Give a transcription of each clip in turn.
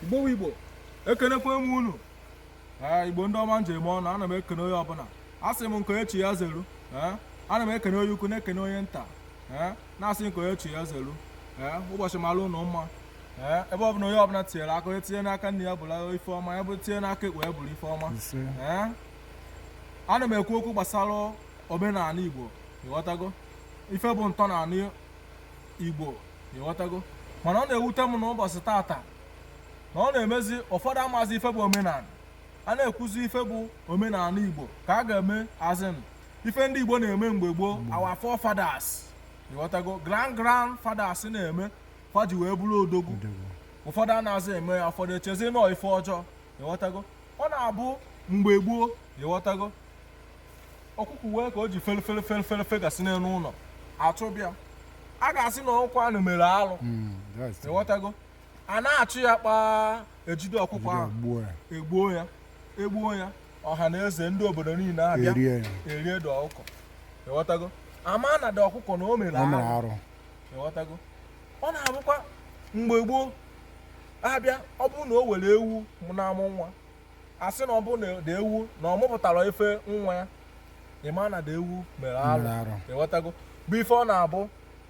igbo igbo ekenekwa m unu ee igbo ndị ọma m ji eme ọnụ ana m ekene onye ọbụla a sị m nke onye chi ya zeru ee ana m ekene onye ukwu na-ekene onye nta ee na-asị nke onye chi ya zeru ee ụbọchị mara unu mma ee ebe ọbụla onye ọbụla tinyere aka onye tinye n'aka nri ya bụrụ ife ọma ya bụ tinye n'aka ekpe ya bụrụ ife ọma ee ana m ekwu okwu gbasara omenala igbo ịghọtago ife bụ ntọala igbo ịghọtago mana ọ na-ewute m na ụbọchị tata na ọ na-emezi ụfọdụ amazi ife bụ omenala a na-ekwuzi ife bụ omenala igbo ka a ga-eme as in ife ndị igbo na-eme mgbe gboo our forefathers ịghọtago grand grand fathers na-eme fa ji wee bụrụ odogwu ụfọdụ anazị eme ya ụfọdụ echezi na ọ ife ọjọọ ịghọtago ọ na-abụ mgbe gboo ịghọtago ọkụkọ wee ka o ji fere fere fere fere fegasị n'elu ụlọ a chụbe ya a ga-asị na ọkụkọ ahụ mere alụ Mm, that's it. ịghọtago a na-achụ ya kpaa ejide ọkụkọ ahụ Gbuo ya. egbuo ya egbuo ya ọha na eze ndị obodo niile abịa Erie ya. erie the ọkụkọ ịghọtago a ma na the ọkụkọ na o mere Ọ mere alụ arụ. ịghọtago ọ na-abụkwa mgbe gboo abịa ọ bụrụ na o nwere ewu mụ na-amụ nwa a sị na ọ bụ na the ewu na ọ mụpụtara ife nwa ya ị ma na the ewu mere arụ Mere arụ. ịghọtago bụ ife ọ na-abụ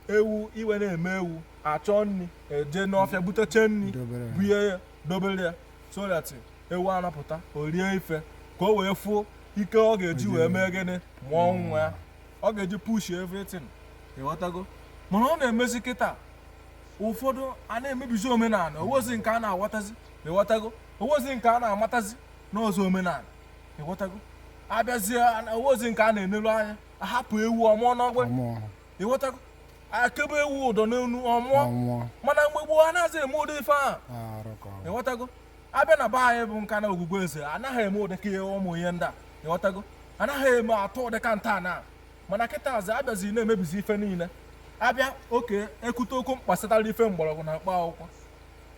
ewu ime na-eme ewu a chọọ nri eje n'ọfịa butecha nri Dobere ya. bunye ya dobere ya so that ewu ahụ pụta o rie ife ka o wee fụ ike ọ ga-eji wee mee gịnị mụọ nwa ya ọ ga-eji push everything ịghọtago mana ọ na-emezi kịta ụfọdụ a na-emebizi omenala o nwezi nke a na-aghọtazi ịghọtago o nwezi nke a na-amatazi n'ụzọ omenala ịghọtago a bịazie o nwezi nke a na-enelu anya ahapụ ewu ọ mụọ n'ọgbụ ịghọtago e kebe ewu ụdọ n'olu ọ mụọ mana mgbe gboo anazị eme ụdị ife ahụ ịghọtago abịa na be anyị bụ nka na ogwugwu eze anaghị eme ụdịka ihe ụmụ ihe ndị a ịghọtago anaghị eme atụ ụdịka nta na mana kịta as in a bịazi na-emebizi ife niile abịa okay e kwute okwu gbasara ife mgbọrọgwụ na mkpa akwụkwọ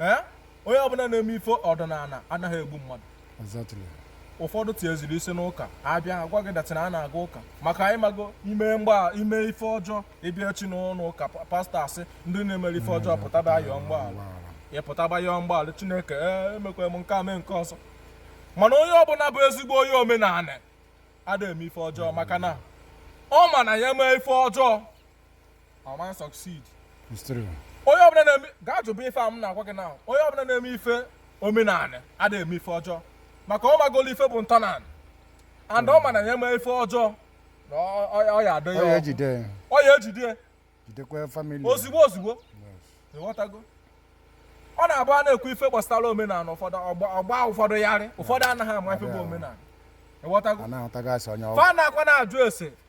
ee onye ọbụla na-eme ife ọdịnala anaghị egbu mmadụ ụfọdụ tieziri isi n'ụka abịa agwa gị that na a na-aga ụka maka anyị mago ime mgba ime ife ọjọọ ị bịa chi n'ụlọ ụka pastor asị ndị na-emere ife ọjọọ pụtaba yọọ mgbaghara ị pụtaba yọọ mgbaghara chineke ee emekwa m nke a mee nke ọzọ mana onye ọbụla bụ ezigbo onye omenala ada eme ife ọjọọ maka na ọ ma na ya mee ife ọjọọ ama succeed onye ọbụla na-eme gaa jụba ife a m na-agwa gị na onye ọbụla na-eme ife omenanị anaghị eme ife ọjọọ maka ọ magolo ife bụ ntọnanị and ọ ma na ya eme ife ọjọọ na ọ ya adọ ya ọ ya ejide ozigbo ozigbo ịghọtago ọ na-abụ a na-ekwu ife gbasara omenanị ụfọdụ ọ gbaa ụfọdụ yarị ụfọdụ anaghị ama ife bụ omenanị ịghọtago fa na-akwa na-ajụ ese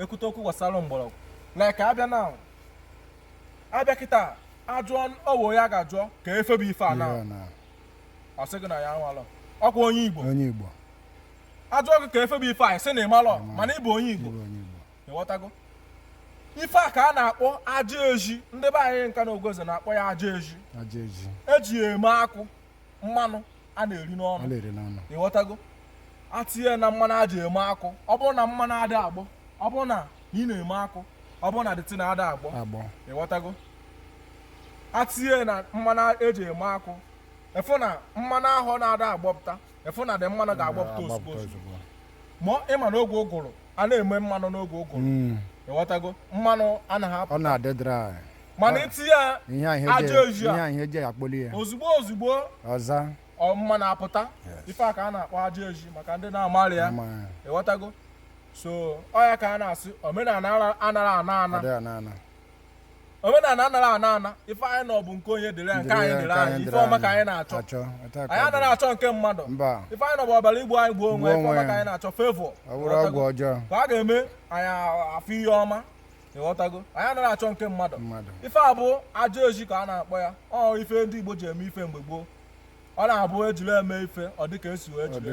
e kwute okwu gbasara mgbọrọgwụ like a bịa na a bịa kịta ajụọ ọwụ onye a ga-ajụọ kee ife bụ ife a na ọ sị gị na ya amalọ ọ kwa onye igbo onye igbo ajụọ gị kee ife bụ ife a ị sị na ị malọ mana ị bụ onye igbo ịghọtago ife a ka a na-akpọ aja ezi ndị be anyị nka na ogoze na-akpọ ya aja ezi e ji ya eme akwụ mmanụ a na-eri n'ọnụ ịghọtago a tinye na mmanụ e ji eme akwụ ọ bụrụ na mmanụ ada agbọ ọ bụrụ na ị na-eme akwụ ọ bụrụ na the thing ada agbọ ịghọtago a tinye na mmanụ e ji eme akwụ ị fụ na mmanụ ahụ na-ada agbọpụta ị fụ na the mmanụ ga-agbọpụta ozigbo ma ị ma na oge ụgụrụ a na-eme mmanụ n'oge ụgụrụ mm. ịghọtago mmanụ anaghị apụ ọ na-adị dry mana i tinye ya aja ezi ya ozigbo ozigbo ọza mmanụ apụta ife a ka a na-akpọ aja ezi maka ndị na-amarị ya ịghọtago so ọ ya ka a na-asị omenanị anaghị ana ana omenanị anaghị ana ana ife anyị na-ayọ bụ nke onye dịrị anyị nke anyị dịrị anyị ife ọma ka anyị na-achọ anyị anaghị achọ nke mmadụ ife anyị na bụ ọ bịara igbu anyị gbuo onwe ife ọma ka anyị na-achọ favour ka a ga-eme anyị afọ ihe ọma ịghọtago anyị anaghị achọ nke mmadụ ife a bụ aja ezi ka a na-akpọ ya ọ ife ndị Igbo ji eme ife mgbe gboo ọ na-abụ e jiri eme ife ọ dịka e si wee jiri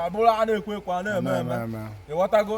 ọ bụrụ a na-ekwe ekwe a na-eme eme ịghọtago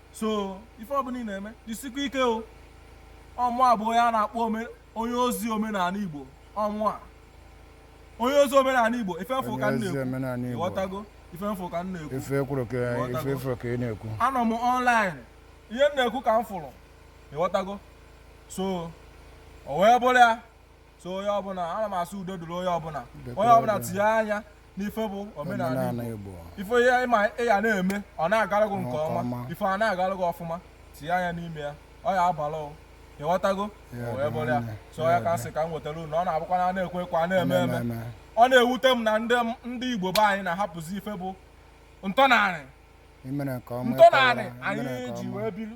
so ife ọbụla ị na-eme jisikwa ike o ọ mụ a bụ onye a na-akpọ onye ozi omenanị igbo ọ mụ a onye ozi omenanị igbo ife m fụ ka m na-ekwu ịghọtago ife m fụ ka m na-ekwu ife kwuru ka ife fụrụ ka ị na-ekwu anọ m online ihe m na-ekwu ka m fụrụ ịghọtago so o wee bụrụ ya so onye ọbụla ana m asị udo dịrị onye ọbụla onye ọbụla tinye anya n'ife bụ omenanị Igbo ife ị ma ị ya na-eme ọ na-agara gị nke ọma ife a na-agara gị ọfụma tinye anya n'ime ya ọ ya abalụ ị o ịghọtago o wee bụrụ ya so ya ka m sị ka m wetara unu ọ na-abụkwa na a na-ekwe ekwe a na-eme eme ọ na-ewute m na ndị Igbo be anyị na-ahapụzi ife bụ ntọnanị ntọnanị anyị ji wee biri